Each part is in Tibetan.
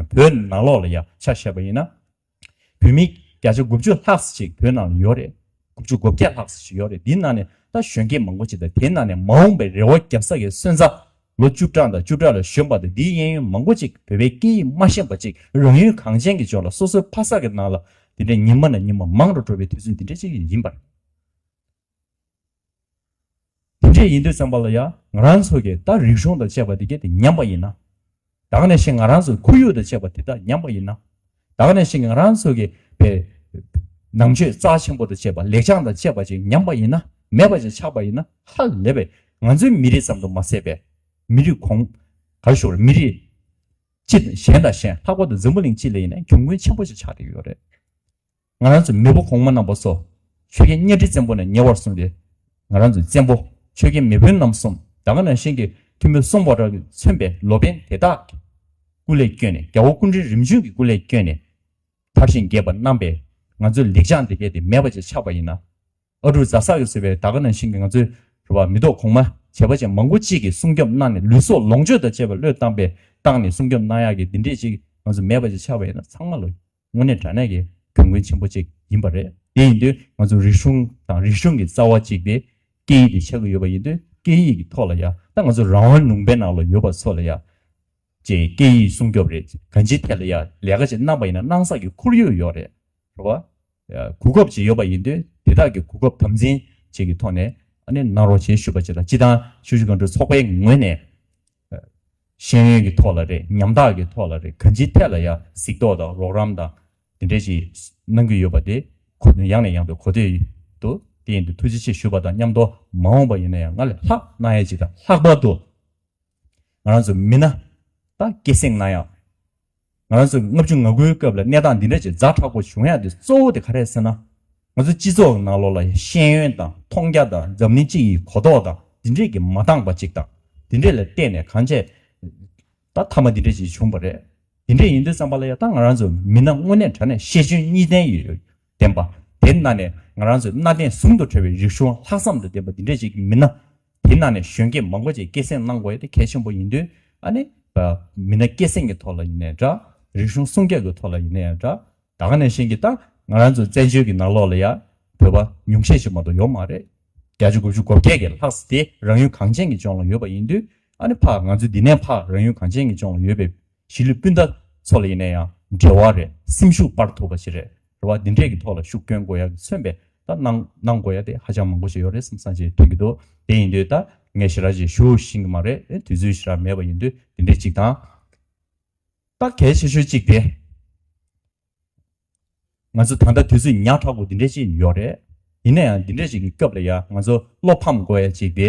བོད་ནང་ནང་ལོག་ལ་ཡག་ཆ་བཤད་པ་ཡིན་ན། བོད་མི་བརྒྱ་ཆ་དགུ་བཅུ་ལྷག་ཅིག་བོད་ནང་ལ་ཡོད་རེད། དགུ་བཅུ་དགུ་བརྒྱ་ལྷག་ཅིག་ཡོད་རེད་དེའི་ནང་ནས་ད་གཞོན་སྐྱེས་མང་པོ་ཅིག་དང་དེའི་ནང་ནས་མ་འོངས་པའི་རེ་བ་རྒྱབ་ས་གི་སོན་རྩ། ལོ་བཅུ་གྲངས་དང་བཅུ་ཕྲག་ལ་ཞོན་པ་དང་དེའི་གཡས་གཡོན་མང་པོ་ཅིག་བོད་པའི་སྐད་ཡིག་མ་ཤེས་པ་ཅིག་རང་ཡུལ་གངས་ཅན་གྱི་ཕྱོགས་ལ་སོ་སོའི་ཕ་ས་གི་ནང་ལ་དེ་འདྲའི་ཉིན་མ་ནས་ཉིན་མ་མང་རུ་འགྲོ་བའི་དུས་ཚོད་འདི་འདྲ་ཅིག་ཡིན་པར། དེ་འདྲས་ཡིན་དུས་བཙན་པོ་ལ་ཡང་ང་རང་ཚོ་གིས་ད་རིག་གཞུང་དང་བཅས་པ་དེ་གས་དེ་ཉམས་པ་ཡིན་ན། དྭགས་ནས་ཤི་ང་རང་ཚོ་ཁོར་ཡུག་དང་བཅས་པ་དེ་དག་ཉམས་པ་ཡིན་ན། དྭགས་ནས་ཤི་ང་རང་ཚོ་གིས་པའི་ནང་ཆོས་རྩ་ཆེན་པོ་དང་བཅས་པ་ལེགས་བྱང་དང་བཅས་པ་ཅིག་ཉམས་པ་ཡིན་ན་མེད་པ་ཅིག་ཆགས་པ་ཡིན་ན་ཧ་ལས་པའི་ང་ཚོའི་མི་རིགས་ཙམ་དུ་མ་ཟད་པའི་མི་རིགས་གོང་གར་ཞུགས་ལ་མི་རིགས་སྤྱི་གཞན་དང་གཞན་ལྷག་པར་དུ་འཛམ་བུ་གླིང་སྤྱི་ལ་ཡིན་ན་གྱོང་གུན་ཆེན་པོ་ཅིག་ཆགས་བསྡད་ཀྱི་ཡོད་རེད། ང་རང་ཚོའི་མེས་པོ་གོང་མ་རྣམས་པ་སོགས། ཆོས་རྒྱལ་གཉའ་ཁྲི་བཙན་པོ་ནས་ཉེ་བར་སོང་སྟེ། ང་རང་ཚོའི་བཙན་པོ་ཆོས་རྒྱལ་མེས་དཔོན་རྣམས་གསུམ་དགྲ་ཁ་ན་ཤན་གྱི་ཐུ་མོའི་སྲོག་འབོག་དགྲ་བོས་མཚོན་པའི་ལོ་པན་དེ་དག་གི་སྐུ་ལས་བསྐྱོན་ནས་རྒྱལ་བོ་སྐུ་འཕྲེང་རིམ་བྱོན་གྱི་སྐུ་ལས་བསྐྱོན་ནས་དར་བཞིན་རྒྱས་པར་སྣང་བས་ང་ཚོའི་ལེགས་བྱང་འདི་གལ་ཏེ་མེད་པ་ཅིག་ཆགས་པ་ཡིན་ན། ཨ་ཀྲུག་རྫ་ས་གིས་བཟོས་པའི་དར་ཁ་ན་ཤན་གྱིས་ང་ཚོའི་རུ་བ་མི་ཐོག་གོང་མ་བྱེས་པ་ཅན་མང་པོ་གཅིག་གིས་སྲུང་སྐྱོབ་གནང་ནས་ལུས་སྲོག་ལོངས་སྤྱོད་དང་བཅས་པ་བློས་བཏང་པས་བཏང་ནས་སྲུང་སྐྱོབ་གནང་ཡག་གི་འདི་འདྲས་ཅིག་ང་ཚོ་མེད་པ་ཅིག་ཆགས་པ་ཡིན་ན་ཚང་མ་ལོ་དངོས་གནས་དྲ་གནས་ཀྱི་གྱོང་གུན་ཆེན་པོ་གཅིག་ཡིན་པ་རེད། དེ་ཡིན་དུས་ང་ཚོ་རིག་གཞུང་དང་རིག་གཞུང་གི་རྩ་བ་གཅིག་སྟེ། སྐད་ཡིག་དེ་ཆགས་ཀྱི་ཡོད་པ་ཡིན་དུས་སྐད་ཡིག་གི་ཐོག་ལ་ཡང་ད་ང་ཚོ་རང་དབང་ལུང་པའི་ནང་ལ་ཡོད་པ་ཚོ་ལ་ཡང། ཅེས་སྐད་ཡིག་སྲུང་སྐྱོབ་རེད་ཅེས་གང་ཅིའི་ཐད་ལ་ཡང་ལས་ཀ་ཅིག་གནང་པ་ཡིན་ན་གནང་ས་ཀྱི་ཁོར་ཡུག་ཡོད་རེད། རེད་བ། གོ་སྐབས་ཅིག་ཡོད་པ་ཡིན་དུས་དེ་དག་གི་གོ་སྐབས་དམ་འཛིན་བཅས་ཀྱི་ཐོག་ནས། གནང་རོགས་ཞེས་ཞུ་བ་བྱས་ལ་སྤྱི་དང་ཆོས་གཞུང་སྒང་དྲུག་ཚོགས་པའི་ངོས་ནས། ཤེས་ཡོན་གྱི་ཐོག་ལ་རེད་ཉམ་ཐག་གི་ཐོག་ལ་རེད་གང་ཅིའི་ཐད་ལ་ཡང་གཟིགས་རྟོག་དང་རོགས་རམ་དང་དེ་འདྲས་ཞིག་གནང་གི་ཡོད་པ་དེ་ཁོ་མོས་ཡང་ནས་ཡང་དུ་གོ་ཐོས་ཡོད་འདུག་དེ་ཡིན་དུ་ཐུགས་རྗེ་ཆེ་ཞུ་བ་དང་མཉམ་དུ་མ་འོངས་པ་ཡིན་ན་ཡང་སྔར་ལས་ལྷག་གནང་ཡ་ཅིག་དང་ལྷག་པར་དུ་ང་རང་ཚོ་མི་སྣ་དང་སྐད་གསེང་གནང་ཡ། ང་རང་ཚོ་ལྔ་བཅུ་ང་དགུའི་སྐབས་ལ་གནས་སྟངས་འདི་འདྲ་ཅིག་རྫ་དྲག་པོ་བྱུང་ཡག་འདི་གཙོ་བོ་དེ་ག་རེད་ཟེར་ན། ང་ཚོའི་སྤྱི་ཚོགས་ནང་ལོགས་ལ་ཤེས་ཡོན་དང་མཐོང་རྒྱ་དང་འཛམ་གླིང་སྤྱི་ཡི་གོ་རྟོགས་དང་འདི་འདྲས་ཀྱིས་མ་འདང་པ་ཅིག་དང་འདི་འདྲས་ལ་བརྟེན་ནས་གང་བྱས། ད་མཐའ་མ་འདི་འདྲས་ཅིག་བྱུང་བ་རེད། འདི་འདྲས་ཡིན་དུས་བསམ་པ་ལ་ཡག་ད་ང་རང་ཚོ་མི་སྣ་དངོས་གནས་དྲ་གནས་ཤེས་འཇོན་གཉིས་ལྡན་ཡོད། བསྟན་པ། དེ་གནའ་ནས་ང་རང་ཚོའི་གནའ་དེང་ཟུང་དུ་འབྲེལ་བའི་རིག་གཞུང་ལྷག་བསམ་དུ་ལྡན་པ་འདི་འདྲས་ཅིག་མིན་ན། དེ་གནའ་ནས་གཞོན་སྐྱེས་མང་པོ་ཅིག་སྐད་གསེང་གནང་དགོས་དེ་གལ་ཆེན་པོ་ཡིན་དུས་ཨ་ནི། མི་སྣ་སྐད་གསེང་གི་ཐོག་ལ་ཡིན་ནའི་འདྲ། རིག་གཞུང་སྲུང་སྐྱོབ་ཀྱི་ཐོག་ལ་ཡིན་ནའི་འདྲ། ད་ག་ནས་བཞིན་གྱི་ད་ང་རང་ཚོའི་བཙན་བྱོལ་གྱི་ནང་ལོགས་ལ་ཡང་བོད་པ་ཉུང་ཤས་ཤིག་མ་གཏོགས་ཡོད་མ་རེད། བརྒྱ་ཆ་དགུ་བཅུ་གོ་བརྒྱད་ཀྱི་ལྷག་ས་དེ་རང་ཡུལ་གངས་ཅན་གྱི་ལྗོངས་ལ་ཡོད་པ་ཡིན་དུས་ཨ་ནི་ཕ་ང་ཚོའི་འདི་ནས་ཕ་རང་ཡུལ་གངས་ཅན་གྱི་ལྗོངས་ལ་ཡོད་པའི་གཞིས་ལུས་སྤུན་ཟླ་ཚོ་ལ་ཡིན་ན་ཡང་འབྲེལ་བ་རེད་སེམས་ཤུགས་སྤར་ཐུབ་པ་ཞིག་རེད་རེད་བ། འདི་འདྲས་ཀྱི་ཐོག་ལ་ཤུགས་སྐྱོན་དགོས་ཡ་གི་མཚོན་པའི་ད་གནང་གནང་དགོས་ཡ་དེ་ཧ་ཅང་མང་པོ་ཞིག་ཡོད་རེད་བསམ་བསམ་བྱས་ཐོན་གྱི་འདུག་དེ་ཡིན་དུས་ད་ངས་ཞི་རགས་ཞིག་ཞུ་བཞིན་གྱི་མ་རེད་དུས་ཚོད་ཞི་རགས་མེད་པ་ཡིན་དུས་འདི་འདྲས་གཅིག་དང། ད་གལ་ཆེ་ཤོས་གཅིག་དེ། ང་ཚོ་ད་ལྟ་དུས་ཚོད་ཉག་ཕྲག་པོ་འདི་འདྲས་ཅིག་ཡོད་རེད། ཡིན་ན་ཡང་འདི་འདྲས་ཅིག་གི་སྐབས་ལ་ཡ་ང་ཚོ་བློ་ཕམ་དགོས་ཡ་གཅིག་དེ།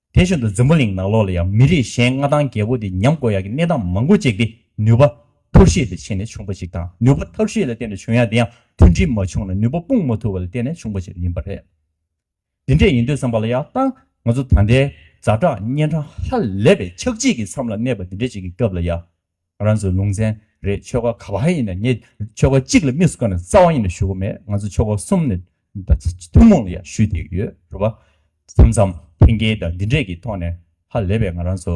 དེ་བཞིན་དུ་རྫིང་བུ་གླིང་ནག་ལོགས་ལ་ཡང་མི་རིགས་གཞན་མངའ་ཐང་རྒྱལ་པོ་དེ་ཉམས་དགོས་ཡག་གི་གནས་སྟངས་མང་པོ་བཅས་ཀྱི་ནུས་པ་ཐོར་བཤིག་ལས་ཕྱེ་ནས་བྱུང་པ་ཞིག་དང་ནུས་པ་ཐོར་བཤིག་ལ་བརྟེན་ནས་བྱུང་ཡག་དེ་ཡང་མཐུན་སྒྲིལ་མ་བྱུང་ལ་ནུས་པ་སྤུངས་མ་ཐུབ་པ་ལ་བརྟེན་ནས་བྱུང་པ་ཞིག་ཡིན་པ་རེད། དེ་འདྲས་ཡིན་དུས་བསམ་པ་ལ་ཡག་ལྟ་ང་ཚོ་ད་ལྟའི་རྫ་བྲག་གཉན་འཕྲང་ཧ་ལས་པའི་ཆགས་འཇིག་གི་མཚམས་ལ་གནས་པ་འདི་འདྲས་ཅིག་གི་སྐབས་ལ་ཡག་རང་ཚོ་ལུང་ཚན་རེད་ཆོལ་ཁ་ག་བ་ཡིན་ན་ངས་ཆོལ་ཁ་གཅིག་ལ་དམིགས་སུ་བཀར་ནས་རྩ་བ་ཡིན་ན་ཞུ་གི་མེད་ང་ཚོ་ཆོལ་ཁ་གསུམ་ནས་ཐུན་མོང་ལ་ཡང་ཞུས་བསྡད་ཀྱི་ཡོད་རེད་པ། མཚམས་མཚམས་འཐེན་འཁྱེར་དང་འདི་འདྲས་ཀྱི་ཐོག་ནས་ཧ་ལས་པའི་ང་རང་ཚོ་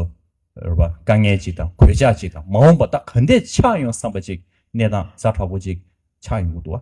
རེད་པ་དཀའ་ངལ་ཅིག་དང་གོད་ཆག་ཅིག་དང་མ་འོངས་པ་ད་ག་འདྲས་ཆགས་ཡོང་བསམ་པ་ཅིག་གནས་སྟངས་ཟ་འདྲ་པོ་ཅིག་ཆགས་ཡོང་གི་འདུག་བ།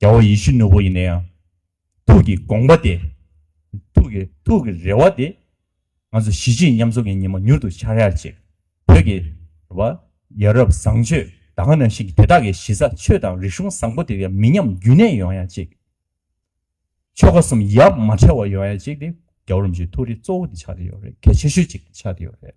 རྒྱལ་བ་ཡེ་ཤུ་ནུ་བོ་ཡིན་ན་ཡང་ཐུགས་ཀྱི་དགོངས་པ་དེ། ཐུགས་ཀྱི་ཐུགས་ཀྱི་རེ་བ་དེ། ང་ཚོ་གཞིས་བྱེས་མཉམ་འཛོམས་ཀྱི་ཉིན་མོ་མྱུར་དུ་འཆར་ཡག་ཅིག་བོད་ཀྱི་རེ་བ། ཡ་རབས་བཟང་སྤྱོད་ད་ག་ནང་བཞིན་གྱི་དེ་དག་གི་གཞི་རྩ་ཆོས་དང་རིག་གཞུང་བཟང་པོ་དེ་ཡང་མི་ཉམས་རྒྱུན་གནས་ཡོང་ཡག་ཅིག། ཆོལ་ཁ་གསུམ་ཡབ་མ་ཕྲལ་བ་ཡོང་ཡག་ཅིག་དེ་རྒྱ་བོད་རིམ་བྱོན་ཐུགས་རེ་གཙོ་བོ་དེ་ཆགས་ཀྱི་ཡོད་རེད་གལ་ཆེ་ཤོས་ཅིག་ཆགས་ཀྱི་ཡོད་རེད།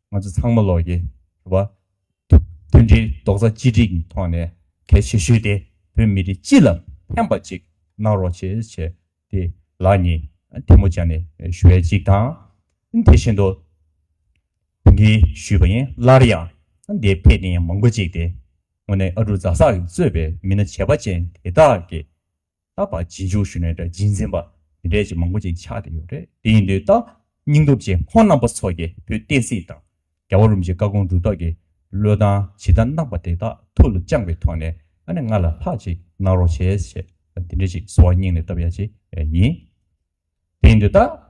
ང་ཚོ་ཚང་མ་ལོགས་ཀྱི་རེད། མཐུན་སྒྲིལ་རྡོག་རྩ་གཅིག་སྒྲིལ་གྱི་ཐོག་ནས་གལ་ཆེ་ཤོས་དེ་བོད་མི་རིགས་སྤྱི་ལ་ཕན་པ་ཅིག་གནང་རོགས་ཞེས་བྱས་ཏེ་ལག་གཉིས་ཐལ་མོ་སྦྱར་ནས་ཞུ་བ་ཅིག་དང། དེ་བཞིན་དུ་དེ་འདྲའི་ཞུས་པ་ཡིན་སླར་ཡང་འདིར་ཕེབས་མཁན་མང་པོ་ཅིག་སྟེ། ངོ་ནས་ཨ་ཀྲུག་རྫ་སར་གཙོས་པའི་མི་སྣ་བྱེས་པ་ཅན་དེ་དག་གིས་རྟག་པར་སྦྱིན་ཆོག་ཞུས་ནས་སྦྱིན་འཛིན་པ་དེ་འདྲས་ཀྱི་མང་པོ་ཅིག་ཆགས་ཏེ་ཡོད་རེད་དེ་ཡིན་དུས་རྟག་སྙིང་སྟོབས་ཆེ་ཁོང་རྣམ་པ་ཚོ་ཀྱིས་བོད་བསྟན་སྲིད་དང་རྒྱ་བ་རུམ་གྱི་བཀའ་དགོངས་སྒྲུབ་ཐབས་ཀྱི་བློས་བཏང་ཇི་ལྟར་གནང་པ་དེ་དག་ཐུགས་ལ་བཅངས་པའི་ཐོག་ནས་ཨ་ནེ་ང་ལ་ལྷག་ཅིག་གནང་རོགས་བྱས་ཞེས་དེ་འདྲས་ཅིག་གསོལ་བ་སྙིང་ནས་བཏབ་ཡ་ཅིག་ཡིན། དེ་ཡིན་དུས་རྟག།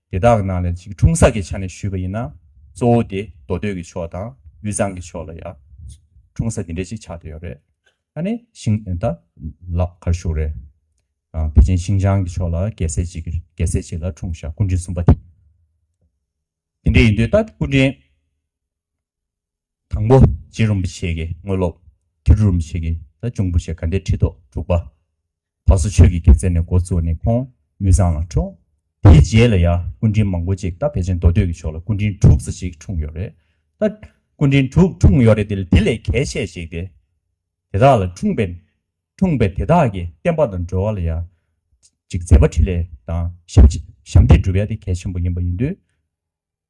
དེ་དག་གི་ནང་ལས་གཅིག་འཁྲུངས་ས་ཀྱི་ཆ་ནས་ཞུས་པ་ཡིན་ན་གཙོ་བོ་དེ་མདོ་སྟོད་ཀྱི་ཕྱོགས་དང་དབུས་གཙང་གི་ཕྱོགས་ལ་ཡང་འཁྲུངས་ས་དེ་འདྲའི་ཅིག་ཆགས་དེ་ཡོད་རེད། ད་ནི་ཤིང། ད་ལ་གར་བཞུགས་རེད། བེ་ཅིན་ཤིང་ཅང་གི་ཕྱོགས་ལ་རྒྱལ་སྲས་གཅིག་རྒྱལ་སྲས་གཅིག་ལ་འཁྲུངས་ཞག་སྐུ་འབྲིང་གསུམ་པ་དེ། དེ་འདྲས་ཡིན་དུས་ད་སྐུ་འབྲིང་དང་པོ་རྗེ་རིན་པོ་ཆེ་གི་དངོས་སློབ། དེ་རུ་རིན་པོ་ཆེ་གི་ད་འབྱུང་པོ་ཆེ་ག་འདྲས་ཁྲི་ཐོག་དྲུག་པ། ད་གཟོད་ཆོས་ཀྱི་དུས་བཙལ་ནས་འགོ་བཙུགས་ནས་ཁོང་དབུས་གཙང་ལ་འཁྲུངས། དེའི་རྗེས་ལ་ཡང་སྐུ་དྲིན་མང་པོ་ཅིག་སྟབས་བདེ་ཅན་མདོ་སྟོད་ཀྱི་ཕྱོགས་ལ་སྐུ་དྲིན་དྲུག་ཙ་ཅིག་འཁྲུངས་ཡོད་རེད་ད། སྐུ་དྲིན་དྲུག་འཁྲུངས་ཡོད་རེད་དེ་ལས་གལ་ཆེ་ཞིག་དེ་དེ་དག་ལ་འཁྲུངས་པས། འཁྲུངས་པས་དེ་དག་གི་བསྟན་པ་དང་འགྲོ་བ་ལ་ཡང་ཅིག་མཛད་པ་ཕྲིན་ལས་དང་ཞབས་འདེགས་བསྒྲུབ་ཡ་དེ་གལ་ཆེན་པོ་ཡིན་པ་ཡིན་དུས།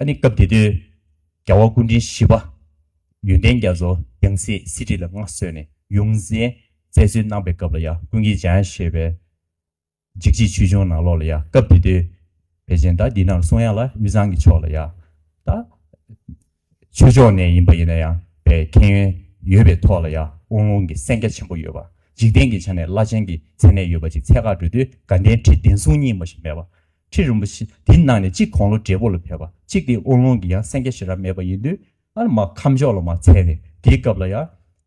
ཨ་ནི་སྐབས་དེ་དུས་རྒྱ་བ་སྐུ་དྲིན་བཞི་པ་ཡོན་ཏན་རྒྱ་མཚོ་རྒྱང་སྲིད་གསེར་ཁྲི་ལ་མངའ་གསོལ་ནས་ཡོངས་འཛིན་བཙལ་འཚོལ་གནང་པའི་སྐབས་ལ་ཡང་ཀུན་གྱིས་སྦྱང་ཡང་ཤེས་པའི་འཇིགས་བྱེད་ཆོས་འབྱུང་ནང་ལོགས་ལ་ཡང་སྐབས་དེ་དུས་བེ་ཅན་དག་འདི་ནར་སོང་ཡང་ལ་དབུས་གཙང་གི་ཕྱོགས་ལ་ཡང་དག་ཆོས་ཕྱོགས་ནས་ཡིན་པ་ཡིན་ན་ཡང་བའི་ཁེན་ཡོན་ཡོད་པའི་ཐོག་ལ་ཡང་དབུང་ལུང་གི་སེང་རྒྱ་ཆེན་པོ་ཡོད་པ། འཇིག་རྟེན་གྱི་ཆ་ནས་བླ་ཆེན་གྱི་མཚན་གནས་ཡོད་པ་ཅིག་ཚད་བཀག་འགྲོས་དུས་དགའ་ལྡན་ཁྲི་བདེན་གསུང་གཉིས་མ་ཞིག་མེད་པ། ཁྲི་རིན་པོ་ཆེ་དེ་ནང་ནས་གཅིག་གོང་ལོ་བགྲེས་པོ་ལ་ཕེབས་པ་གཅིག་དེ་དབུང་ལུང་གི་ཡང་སེང་རྒྱ་ཞེས་ར་མེད་པ་ཡིན་དུས། ཨ་མ་ཁམས་ཕྱོགས་ལ་མ་འཚལ་བས་དེའི་སྐབས་ལ་ཡང།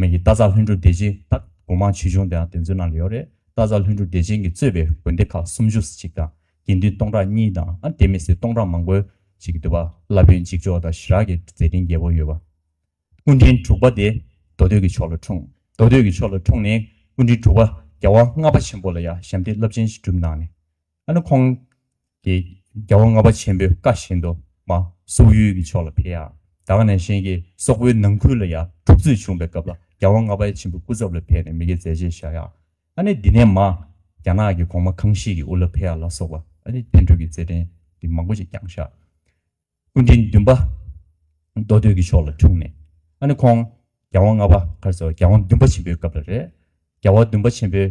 མེད་ཀྱི་རྟ་ཚག་ལྷུན་གྲུབ་བདེ་ཆེན་དང་དགོན་མང་ཆེ་ཆུང་དེའང་དེ་ཚོའི་ནང་ལ་ཡོད་རེད་རྟ་ཚག་ལྷུན་གྲུབ་བདེ་ཆེན་གྱིས་གཙོས་པའི་དགོན་སྡེ་ཁག་སུམ་ཅུ་ཟེར་གཅིག་དང་དགེ་འདུན་སྟོང་ཕྲག་གཉིས་དང་ཨ་དེ་མི་སྲིད་སྟོང་ཕྲག་མང་པོའི་ཞིག་གི་འདུལ་བ་བླ་དཔོན་གཅིག་ལྕོགས་དང་ཞི་རགས་ཀྱི་མཛད་འཕྲིན་རྒྱས་པོ་ཡོད་པ། སྐུ་འཕྲེང་དྲུག་པ་དེ་མདོ་སྟོད་ཀྱི་ཕྱོགས་ལ་འཁྲུངས་མདོ་སྟོད་ཀྱི་ཕྱོགས་ལ་འཁྲུངས་ནས་སྐུ་འཕྲེང་དྲུག་པ་རྒྱལ་དབང་ལྔ་པ་ཆེན་པོ་ལ་ཡང་ཞབས་འདེགས་རླབས་ཆེན་ཞིག་བསྒྲུབས་གནང་ནས། ཨ་ནུ་ཁོང་གིས་རྒྱལ་བ་ལྔ་པ་ཆེན་པོའི་བཀའ་བཞིན་དུ་མ་སོག་ཡུལ་གྱི་ཕྱོགས་ལ་ཕེབས་ཡ། དྭགས་ནས་གཤེན་གྱི་སོག་པོའི་ནང་ཁུལ་ལ་ཡ་འཁྲུག་རྩོད་བྱུང་པའི་སྐབས་ལ་རྒྱལ་བ་ལྔ་པ་ཆེན་པོའི་སྐུ་ཚབ་ལ་ཕེབས་ནས་མི་དགེ་མཛད་རྗེས་བཞག་ཡ། ཨ་ནི་འདི་ནས་མ་རྒྱ་ནག་གི་གོང་མ་ཁང་ཤིས་ཀྱི་དབུ་ལ་ཕེབས་ཡ་ལ་སོགས་པ་ཨ་ནི་བསྟན་འགྲོའི་གྱི་རྩེད་འགྲན་གྱི་མང་པོ་ཅིག་བསྐྱངས་བཞག། སྐུ་འཕྲེང་བདུན་པ་མདོ་སྟོད་ཀྱི་ཕྱོགས་ལ་འཁྲུངས་ནས་ཨ་ནི་ཁོང་རྒྱལ་བ་ལྔ་པ་ཁར་སོགས་རྒྱལ་བ་བདུན་པ་ཆེན་པོའི་སྐབས་ལ་རེད། རྒྱལ་བ་བདུན་པ་ཆེན་པོའི།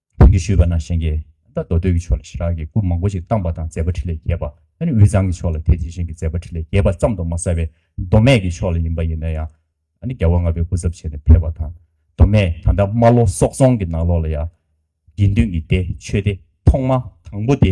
དོན་གྱིས་ཞུས་པ་ན་གཞན་གྱིས་ད་མདོ་སྟོད་ཀྱི་ཕྱོགས་ལ་ཞི་རགས་ཀྱི་སྐུ་མང་པོ་ཞིག་བཏང་པ་དང་མཛད་པ་ཁྲི་ལས་བརྒལ་བ་ད་ནི་དབུས་གཙང་གི་ཕྱོགས་ལ་དེ་དེ་བཞིན་གྱི་མཛད་པ་ཁྲི་ལས་བརྒལ་བ་ཙམ་དུ་མ་ཟད་པའི་མདོ་སྨད་ཀྱི་ཕྱོགས་ལ་ཡིན་པ་ཡིན་ན་ཡང་ད་ནི་རྒྱལ་བ་ལྔ་པའི་སྐུ་ཚབ་བྱས་ནས་ཕེབས་པ་དང་མདོ་སྨད་ད་ལྟ་རྨ་ལྷོ་སོག་རྫོང་གི་ནང་ལོགས་ལ་ཡང་དགེ་འདུན་གྱི་སྡེ་ཆོས་སྡེ་ཐོག་མ་དང་པོ་དེ།